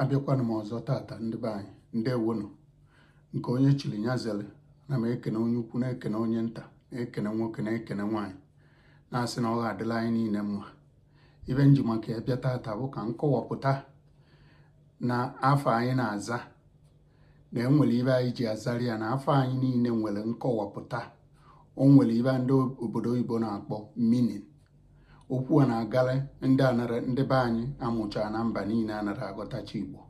abịakwana m ọzọ tata ndị be anyị ndewonụ nke onye chiri ya zere na m ekene onye ukwu na-ekene onye nta na-ekene nwoke na-ekene nwaanyị na-asị na ọ ga-adịla anyị niile mma ibe m ji maka ya bịa tata bụ ka m kọwapụta na afa anyị na-aza na enwere ibe anyị ji azara ya na afa anyị niile nwere nkọwapụta o nwere ibe ndị obodo oyibo na-akpọ meaning okwu a na-agara ndị anara ndị be anyị amụchara na mba niile anara aghọtacha igbo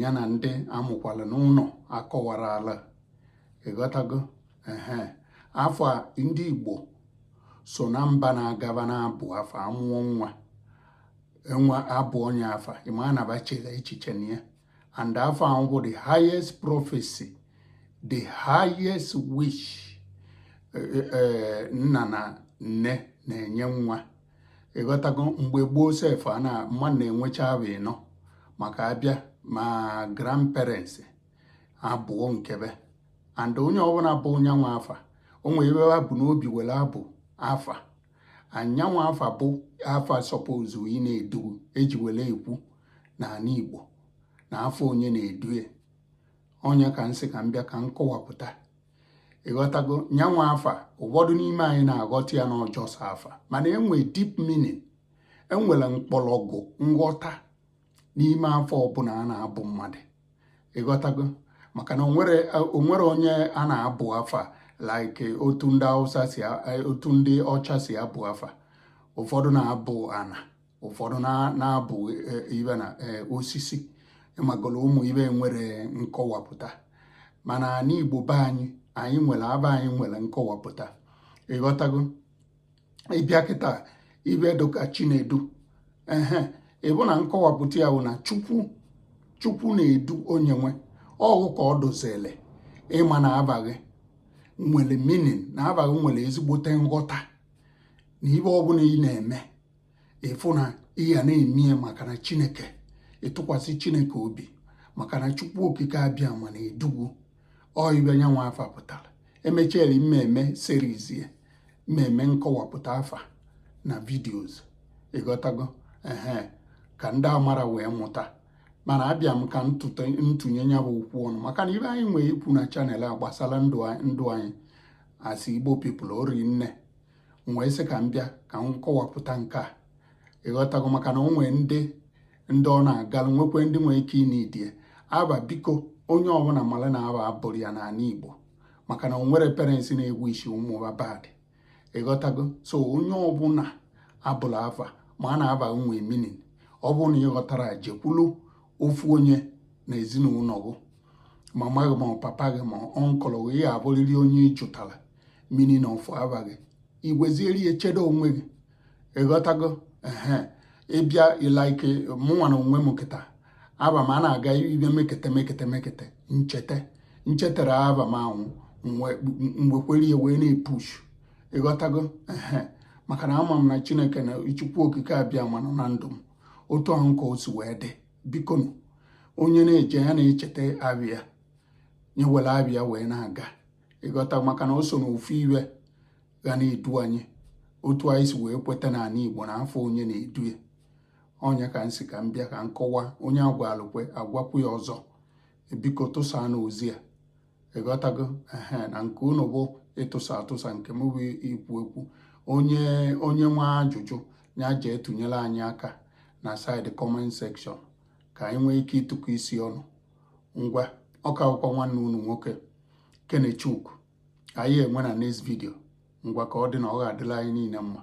ya na ndị amụkwala n'ụlọ akọwara ala ịghọtago ehe afa ndị igbo so na mba na-agaba na-abụ afa amụọ nwa enwe abụ onye afa ịma anaba chela echiche na ya and afa ahụ bụ the highest prophecy the highest wish e, e, e, nna na nne na-enye nwa ịghọtago mgbe gboo sef a na mma na-enwecha abụ ịnọ maka abịa ma grandparents abụọ nkebe and onye ọbụla bụ nyanwụ afa o nwere ibe ha bu n'obi were abụ afa nyanwụ afa bụ afa suppose ị na-edu gị eji were ekwu n'ala Igbo na afa onye na-edu onye ka m sị ka m bịa ka m kọwapụta ịghọtago nyanwụ afa ụfọdụ n'ime anyị na-aghọta ya na ọ just afa mana enwe deep meaning enwere mkpọrọgwụ nghọta n'ime afa ọbụla a na-abụ mmadụ ịghọtago maka na onwere onye a na-abụ afa like otu ndị Hausa si otu ndị ọcha si abụ afa ụfọdụ na-abụ ana ụfọdụ na-abụ e, ibe na e, osisi ịmagolo ụmụ ibe nwere nkọwapụta mana n'anị Igbo be anyị anyị nwere afa anyị nwere nkọwapụta ịghọtago ịbịa kịta ibe dịka chinedu ehe ịfụ na nkọwapụta ya bụ na chukwu chukwu na-edu onye nwe ọgụ ka ọ dozele ịma na afa gị nwere meaning na afa gị nwere ezigbote nghọta na ibe ọbụla ị na-eme ịfụ na ị ya na-eme ya maka na chineke ịtụkwasị chineke obi maka na chukwu okike abịama na-edu gị ọ ibe nyanwụ afa pụtara emechara mmemme series ya mmemme nkọwapụta afa na videos ịghọtago ehe ka ndị amara wee mụta mana abịa m ka m tụnye ya bụ okwu ọnụ maka na ibe anyị nwee ikwu na channel a gbasara ndụ anyị asị igbo people o ri nne m wee sị ka m bịa ka m kọwapụta nke a ịghọtago maka na o nwee ndị ndị ọ na-agalụ nwekwe ndị nwee ike ị na-edie aba biko onye ọbụla mara na aba abụrụ ya n'ala Igbo maka na o nwere parents na-egwu isi ụmụ ha bad ịghọtago so onye ọbụla abụla afa maa na aba nwee meaning ọ bụrụ na ịghọtara jekwulu ofu onye na ezinụlọ gị mama gị ma ọ papa gị ma uncle gị ya abụrịrị onye ị jụtara meaning na ọfụ aba gị i wezieri ya chedo onwe gị ịghọtago ehe ị bịa like mụnwa na onwe m kịta aba m a na-aga ibe mekete mekete mekete m cheta m chetara aba m ahụ m gbekwere ya wee na-epush ịghọtago ehe maka na ama m na chineke na chukwu okike abịama nọ na ndụ m otu ahụ ka o si wee dị bikonu onye na-eje ya na-echeta aba ya ya were aba ya wee na-aga ịghọta maka na o so na ofu ihe ga na-edu anyị otu anyị si wee kweta na ala Igbo na afa onye na-edu ya ọ nya ka m sị ka m bịa ka m kọwa onye a gwalụ kwe a gwakwu ya ọzọ biko tụsaanụ ozi a ịghọtago ehe na nke unu bụ ịtụsa atụsa nke m bụ ikwu ekwu onye onye nwe ajụjụ ya jee tụnyere anyị aka na side comment section ka anyị nwee ike ịtụkọ isi ọnụ ngwa ọka akwụkwọ nwanne unu nwoke Kenechukwu anyị enwe na next video ngwa ka ọ dị na ọ ga-adịla anyị niile mma